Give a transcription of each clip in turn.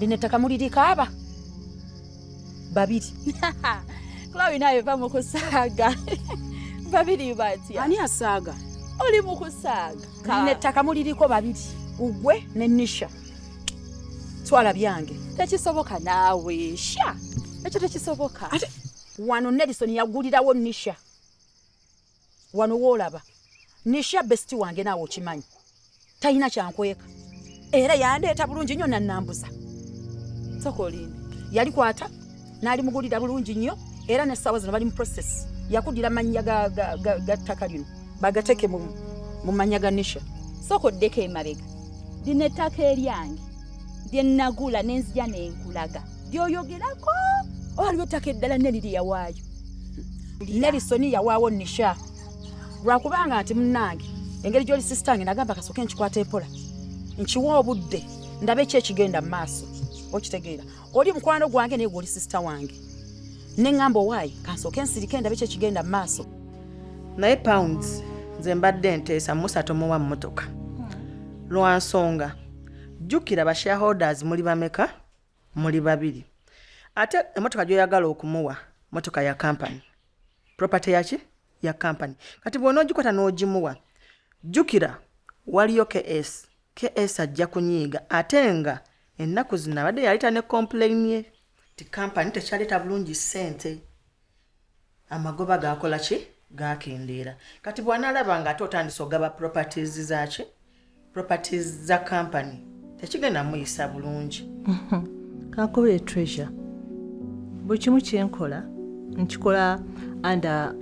Lino ettaka mulirikaaba babiri Chloe naye va mu kusaaga babiri batya ani asaaga oli mu kusaaga lino ettaka muliriko babiri ugwe ne nisha twala byange tekisoboka naawe sha ekyo tekisoboka wano nelison yagulirawo nisha wano woolaba nisha besiti wange naawe okimanyi talina kyankweka era yandeeta bulungi nnyo nannambuza sokolini yali kwata naali mugulira bulungi nnyo era nessaawa zino bali mu process yakudira mannya ga ttaka lino bagateeke mu mannya ga nisha soko ddeko emabega lino ettaka eryange lye nagula nenzija nenkulaga lyoyogerako waliwo ettaka eddala neri lye yawaayo nerisoni yawaawo nisha lwakubanga nti munnange engeri gyoli sisitange nagamba kasooke nkikwata empola nkiwa obudde ndabe ki ekigenda mu maaso okitegeera oli mukwano gwange naye gweoli sisita wange ne ŋŋamba owaayi kansooke nsirike ndabe ki ekigenda mu maaso naye pounds nze mbadde nteesa musa tomuwa mmotoka lwa nsonga jjukira ba shareholders muli bameka muli babiri ate emotoka gyoyagala okumuwa motoka ya kampani property yaki ya kampani kati bwona ogikwata n'ogimuwa jjukira waliyo ks ks ajja kunyiiga ate nga ennaku zino abadde yaleeta ne kompulaini ye ti kampani tekyaleeta bulungi ssente amagoba gakola ki gakendeera kati bwanalaba nga ate otandise ogaba properties zaki properties za company tekigenda muyisa bulungi kakubire treasure buli kimu kyenkola nkikola under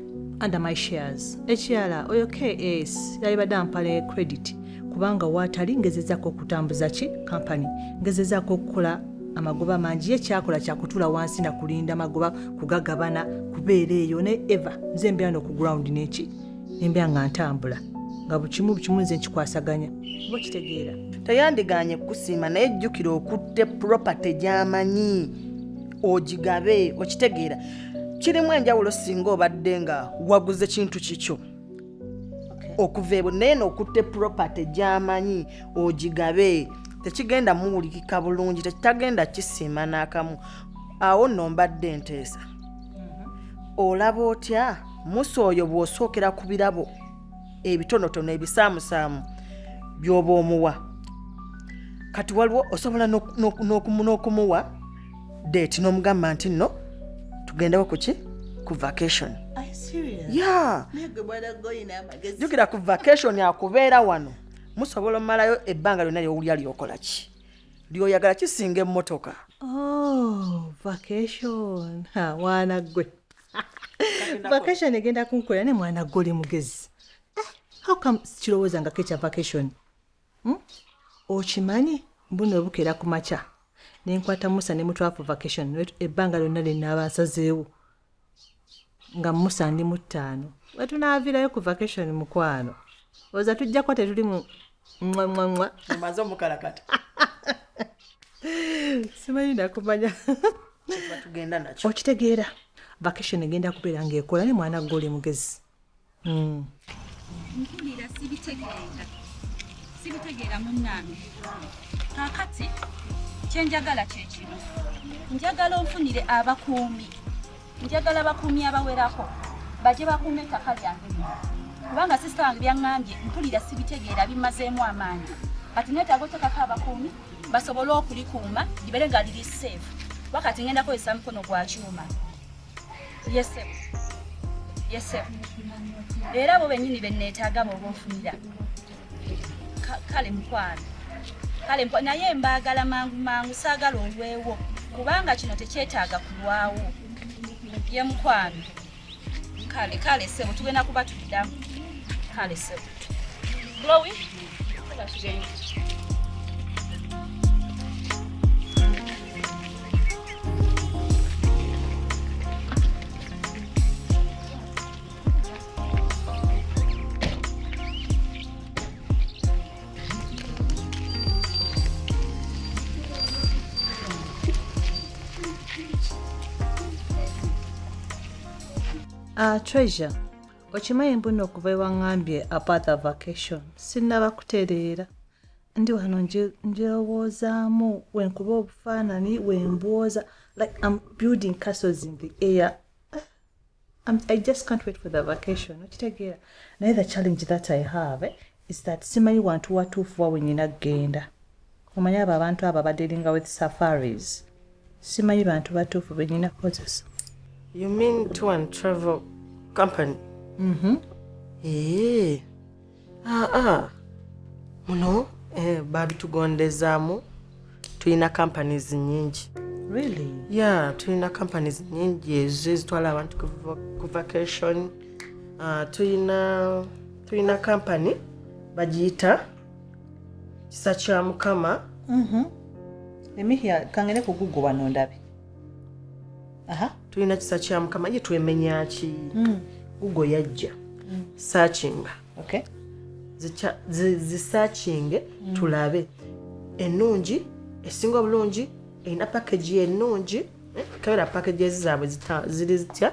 under my shares ekirala oyo kas yalibadde ampale credit kubanga waatali ngezezaako okutambuza ki kampani ngezezaako okukola amagoba mangi ye kyakola kyakutula wansi na kulinda magoba kugagabana kubeera eyo ne eva nze mbeera noku ground neki nembeera nga ntambula nga bukimu bukimu nze nkikwasaganya oba kitegeera teyandiganye kukusiima naye jjukira okutte property gyamanyi ogigabe okitegeera kirimu enjawulo singa obadde nga waguze kintu kikyo okuva ebwe naye nokutte property gyamanyi ogigabe tekigenda muwulikika bulungi tekitagenda kisiima n'akamu awo nno mbadde enteesa mm-hmm. olaba otya musa oyo bw'osookera ku birabo ebitonotono ebisaamusaamu by'oba omuwa kati waliwo osobola n'okumuwa date n'omugamba nti nno tugendewo ku ki ku vacation jukira ku vacation akubeera wano musobola omumalayo ebbanga lyonna lyowulya lyokola ki lyoyagala kisinga emmotoka oh, mwana gwe vacation egenda kunkolera ne mwana gwe oli mugezi ah, how come sikirowoozangako ekya vacation hmm? okimanyi mbuno ebukera ku makya nenkwata musa ne mutwafu vacation ebbanga lyonna lyenaaba nsazeewo nga musa ndi mu ttaano wetunaavirayo ku vacation mukwano oza tujja kuba tetuli mu nwanwanwa omaze omukalakata simanyi nakumanya okitegeera vacation egenda kubeera ngaekola ne mwana goli mugezi mm. mpulira sibitegeera sibitegeera munnange kakati kyenjagala kyekino njagala onfunire abakuumi njagala bakuumi abawerako baje bakuuma ettaka lyange kubanga sisita wange byaŋŋambye mpulira sibitegeera bimazeemu amaanyi kati netaaga otekako abakuumi basobole okulikuuma libere nga liri seefu wakati ngenda kozesa mukono gwa kyuma yesebo yesebo era abo benyini beneetaaga booba ofunira kale mukwano kale naye mbaagala mangu mangu saagala olwewo kubanga kino tekyetaaga kulwawo ye mukwano kale kale sebo tugenda kuba tuddamu kale sebo glowi tuba tugenyi Uh, treasure okimanyi mbuno okuva ewaŋambye apart vacation sinnaba kutereera ndi wano njewoozaamu wenkuba obufaanani wembwoza like am building castles in the air I'm, i just can't wait for the vacation okitegeera naye the challenge that i have eh, is that simanyi wantu watuufu wa wenyina kugenda omanyi abo abantu abo abadealinga with safaris simanyi bantu batuufu benyina kukozesa you mean to and travel company mm -hmm. eee eh. aa muno eh, babitugondezaamu tulina companies nyingi really? yeah tulina companies nyingi ezo ezitwala abantu ku vacation uh, tulina tulina company bagiyita kisa kya mukama mm -hmm. emihya kangene ku gugu wano ndabe tulina kisa kya mukama ye twemenya ki hmm. gugo yajja hmm. sakinga zisakinge hmm. tulabe ennungi esinga obulungi erina pakagi ennungi eh, kabera pakagi ezi zaabwe ziri zitya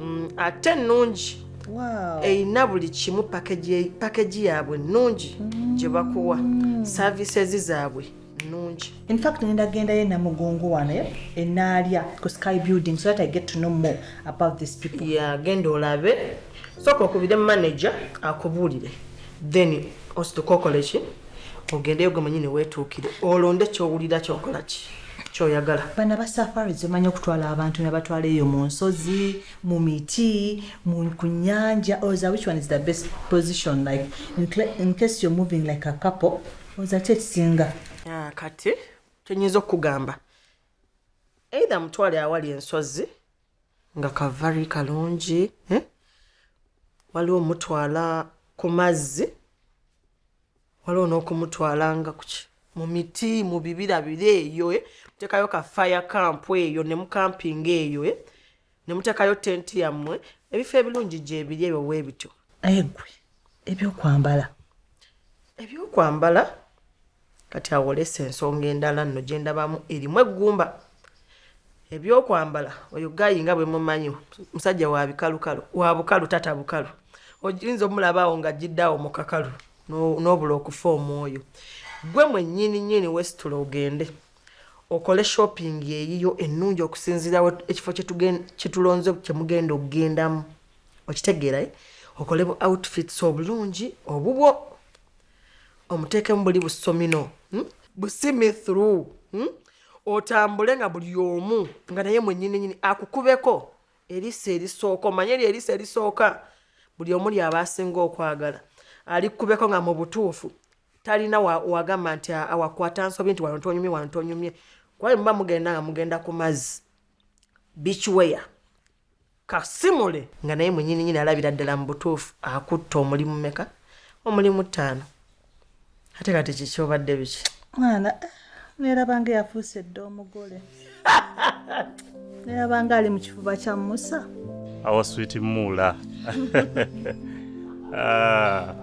mm, ate nnungi erina buli kimu pakeji yaabwe nnungi mm. gye bakuwa services zaabwe nnungi infact nendagendayo enamugongo wano eh, enaalya ku sky building so that i get to know more about this people ya genda olabe sooka okubire manager akubuulire then osituka okoleki ogendeyo gwe manyini weetuukire olonde kyowulira kyokolaki kyoyagala bana ba safaris bamanyi okutwala abantu nabatwala eyo mu nsozi mu miti ku nyanja oza which one is the best position like in case you're moving like a couple oza ki ekisinga ah, kati kyenyinza okukugamba either mutwale awali ensozi nga kavari kalungi eh? waliwo mutwala ku mazzi waliwo n'okumutwalanga kuki mu miti mu bibira biri eyo eh? mutekayo ka fire camp eyo ne mukampinga eyo eh? ne mutekayo tenti yammwe ebifo ebirungi gyebiri ebyo webityo naye gwe ebyokwambala ebyokwambala kati awolesa ensonga endala nno gye ndabamu erimu eggumba ebyokwambala oyo gayi nga bwe mumanyi musajja wa bikalukalu wa bukalu tata bukalu oyinza omulaba awo nga gidde awo mu kakalu n'obula okufa omwoyo gwe mwennyini nyini wesitula ogende okole shopping eyiyo ennungi okusinziira ekifo kyetulonze kyemugenda okugendamu okitegeera eh? okole bu outfits obulungi obubwo omuteekemu buli busomino hmm? busimi through hmm? otambule nga buli omu nga naye mwennyini nyini akukubeko eriso erisooka omanye eryo eriso erisooka buli omuli aba asinga okwagala alikubeko nga mu butuufu talina wagamba nti awakwata nsobi nti wano tonyumye wano tonyumye kuba muba mugenda nga mugenda ku mazzi bikiweya kasimule nga naye munyini nyini alabira ddala mu butuufu akutta omulimu meka omulimu ttaano ate kati kiki obadde biki mwana nerabanga eyafuuse dda omugole nerabanga ali mu kifuba kya musa awa switi muula ah,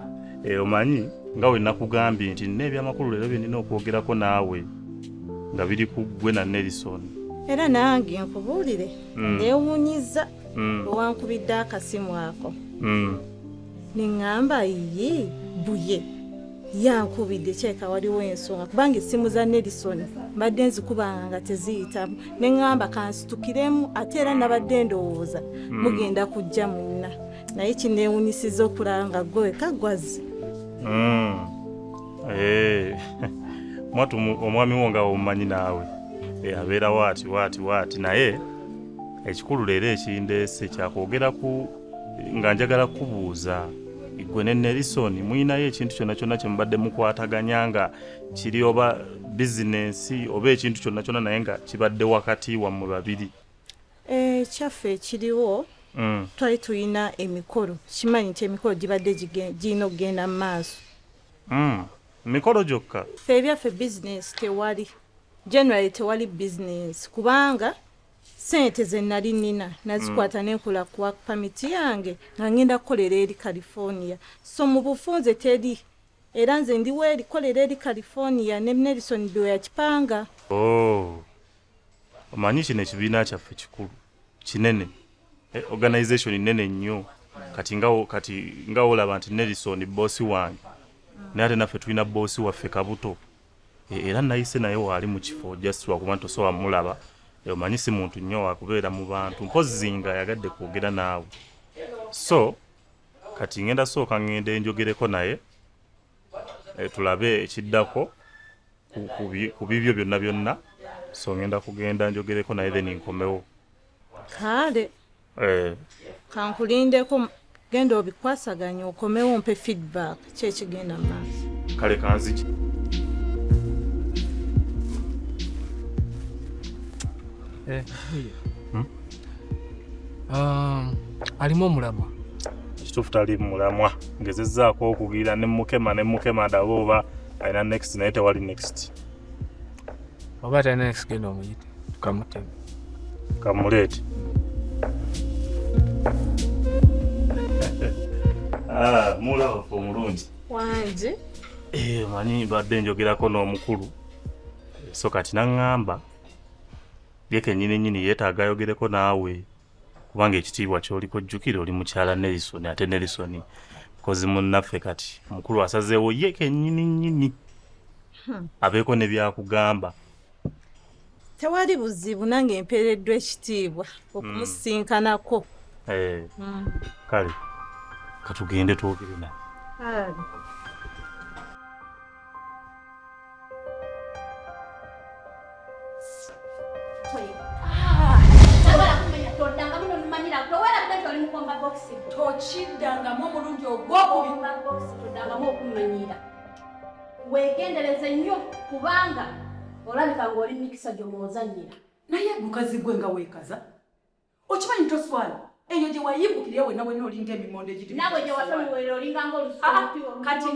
eh, omanyi nga we nakugambye nti nina ebyamakulu leero byenina okwogerako naawe nga biri ku ggwe na nelison era nange nkubuulire mm. newunyiza mm. owankubidde akasimu ako mm. neŋŋamba yiyi buye yankubidde kyeka waliwo ensonga kubanga essimu za nelison mbadde nzikubanga nga teziyitamu ne ŋŋamba kansitukiremu ate era nabadde ndowooza hmm. mugenda kujja munna naye kineewunyisiza okulaba nga gweweka gwazi hmm. eh. mwatu omwami wo nga omumanyi naawe eh, abeera waati waati waati naye ekikulu leero ekindeese kyakwogera ku nga njagala kubuuza gwe ne nelison muyinayo ekintu kyonna kyonna kyemubadde mukwataganya nga kiri oba bizinensi oba ekintu kyonna kyonna naye nga kibadde wakati wammwe babiri ekyaffe eh, ekiriwo mm. twali tulina emikolo kimanyi nti emikolo gibadde girina okugenda mu maaso mm. mikolo gyokka fe ebyaffe bizinensi tewali generally tewali bizinensi kubanga Ssente ze nnali nnina nazikwata mm. ne nkola ku work permit yange nga ngenda kukolera eri California. So mu bufunze teri era nze ndi weerikolera eri California ne Nelson Biwe yakipanga. Oh. Omanyi kino ekibiina kyaffe kikulu kinene eh, organization nnene nnyo kati nga kati nga olaba nti Nelson boss wange naye ate naffe tulina boss waffe Kabuto E, era nayise naye waali mu kifo just lwakuba nti osobola mulaba e, omanyi si muntu nnyo wakubeera mu bantu mpozzi nga ayagadde kwogera naawe so kati ngenda sooka ngenda enjogereko naye e, tulabe ekiddako ku bibyo byonna byonna so ngenda kugenda njogereko naye then nkomewo kale eh. kankulindeko genda obikwasaganya okomewo mpe feedback kyekigenda maaso kale kanziki eh. hmm? um, alimu omulamwa kituufu tali mulamwa ngezezaako okugira ne mukema ne mukema daba oba alina next naye tewali next oba talina next genda omuyite tukamutema kamuleete ah, mulaba omulungi wangi eh, manyi mbadde njogerako n'omukulu so kati naŋŋamba ye kennyini nnyini yeetaaga ayogereko naawe kubanga ekitiibwa kyoliko jjukira oli mukyala nelison ate nelison kozi munnaffe kati omukulu asazeewo ye kenyini nyini hmm. abeeko ne byakugamba tewali buzibu nange empeereddwa ekitiibwa okumusinkanako hmm. eh. hmm. kale katugende twogere naye tokiddangamu omulundi ogwokubiddangamu okumanyiira wegendereze nnyo kubanga olabika ng'oli mikisa gyomwozanyira naye gukazi gwe nga weekaza okimanyi toswala eyo gye wayimbukira ewe nawe nolinga emimondo egikati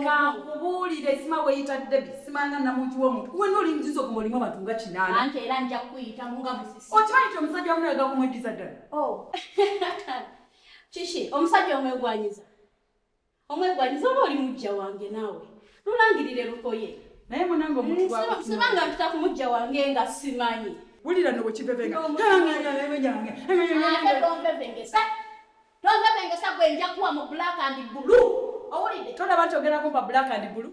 kankubuulire sima weyita debi simanga namuntu womuntu we nolingiza oguma olimu abantu nga kinaanaokimanyi ti omusajja wamu nawe gakumweddiza ddala oh. kiki omusajja omwegwanyiza omwegwanyiza oba oli mujja wange naawe lulangirire lukoye naye munange omutusibanga mpita ku mujja wange nga simanyi wulira no wekivevengatonvevengesa tonvevengesa gwenjakuwa mu black and bulu owulide tolaba nti ogerako ba black and bulu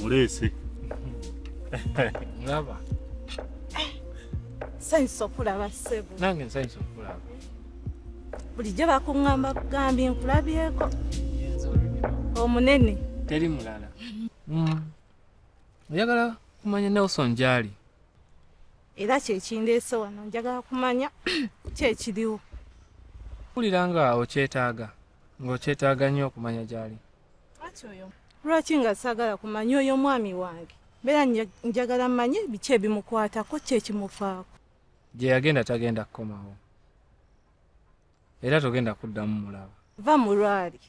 muleese laba nsanyusa okulaba ssebo nange nsanyusa okulaba bulijjo bakuŋŋamba kugambye nkulabyeko omunene teri mulala mm. oyagala kumanya nelson gyali era kyekindeese wano njagala kumanya kyekiriwo wulira nga okyetaaga ng'okyetaaga nnyo okumanya gyali lwaki nga saagala kumanya oyo omwami wange mbeera njagala manye biki ebimukwatako kyekimufaako gye yagenda tagenda kukomawo era togenda kuddamu mulaba va mulwali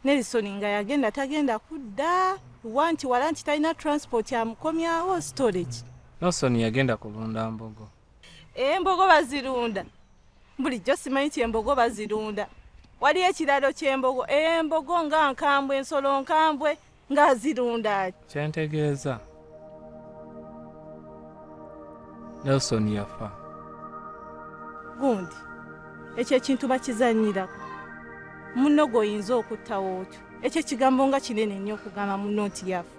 nelisoni nga yagenda tagenda kudda wa nti wala nti talina transport amukomyawo storage nelson yagenda kulunda mbogo embogo eh, bazirunda bulijjo simanyi ti embogo bazirunda waliyo ekiralo kyembogo embogo eh, nga nkambwe ensolo nkambwe ng'azirunda kyentegeeza nelson yafa gundi ekyo ekintu bakizanyirako munno gweoyinza okuttawo otyo ekyo ekigambo nga kinene nnyo okugamba munno nti yafa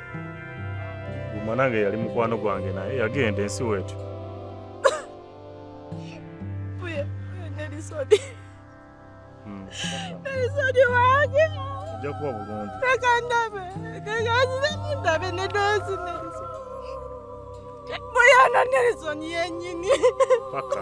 mwanange yali mukwano gwange naye yagenda ensi wetu Isoni wange. Ojja kuba bulungi. Leka ndabe. Leka nziremu ndabe ne doozi Nelson. Muyana Nelson yennyini. Paka.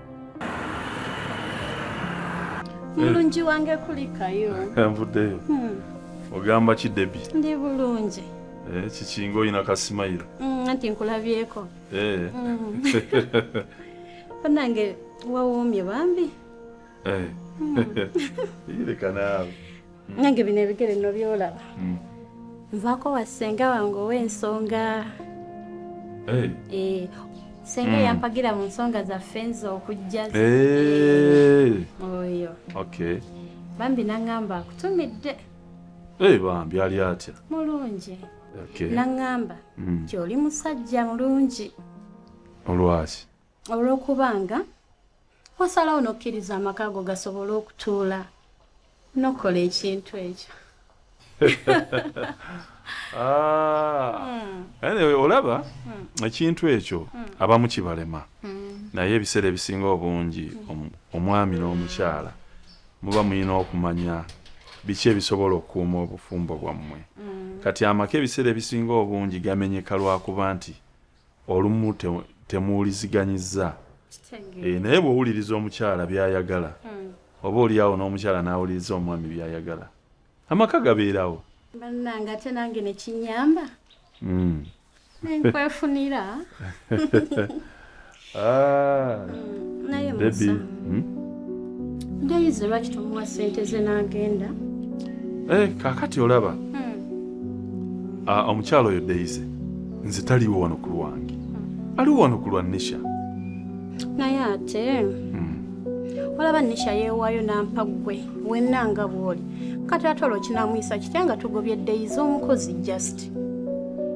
mulungi wange kulikayo nvuddeyo hmm. ogamba ki debi ndi bulungi eh, kikinga olina kasimayiro hmm, anti nkulabyeko eh. hmm. banange wawomye bambi eh. leka naawe nange bino ebigere no byolaba hmm. nvaako wa ssenga wange ow'ensonga eh. Eh, senga hmm. yampagira mu nsonga zaffe nze okujja eh. oyo bambi naŋŋamba akutumidde bambi ali atya mulungi naŋŋamba hmm. nti oli musajja mulungi olwaki olw'okubanga wasalawo n'okkiriza amaka ago gasobole okutuula n'okukola ekintu ekyo ah. olaba hmm. ekintu ekyo hmm. abamu kibalema hmm. naye ebiseera ebisinga obungi omwami n'omukyala muba mulina okumanya biki ebisobola okukuuma obufumbo bwammwe kati amaka ebiseera ebisinga obungi gamenyeka lwakuba nti olumu temuwuliziganyizza eh, naye bwowuliriza omukyala byayagala hmm. oba oliawo n'omukyala n'awuliriza omwami byayagala amaka gabeerawo bannange ate nange nekinyamba hmm. nenkwefunira ah. hmm, naye musa ndayize lwaki tomuwa sente ze n'agenda eh, kakati olaba ah, omukyala oyo deyize nze taliwo wano ku lwange aliwo wano ku lwa nisha naye ate hmm. olaba nisha yeewaayo nampa ggwe wenna nga bw'oli kati ate olwo kinamuyisa kitya nga tugobye ddeyi z'omukozi just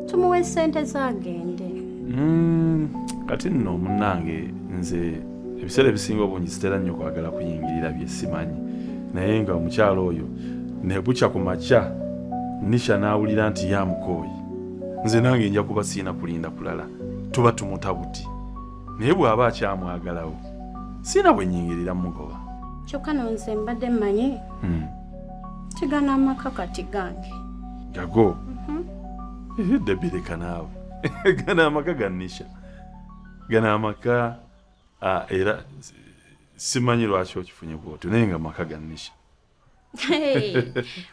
tumuwa esente zagende hmm, kati nno munnange nze ebiseera ebisinga obungi sitera nnyo kwagala kuyingirira bye simanyi naye nga omukyalo oyo nebukya ku makya nisha n'awulira nti yamukooyi nze nange nja kuba siina kulinda kulala tuba tumuta buti naye bw'aba akyamwagalawo siina bwe nyingirira mugoba kyokka nonze mbadde mmanyi hmm. tigana amaka kati gange gago mhm. eh, debireka naawe gana amaka ganisha gana amaka era simanyi lwaki okifunye bwotyo naye nga amaka ganisha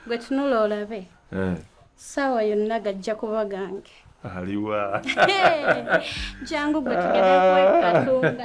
gwe tunula olabe eh. saawa yonna gajja kuba gange aliwa jangu gwe tugende kwekatunga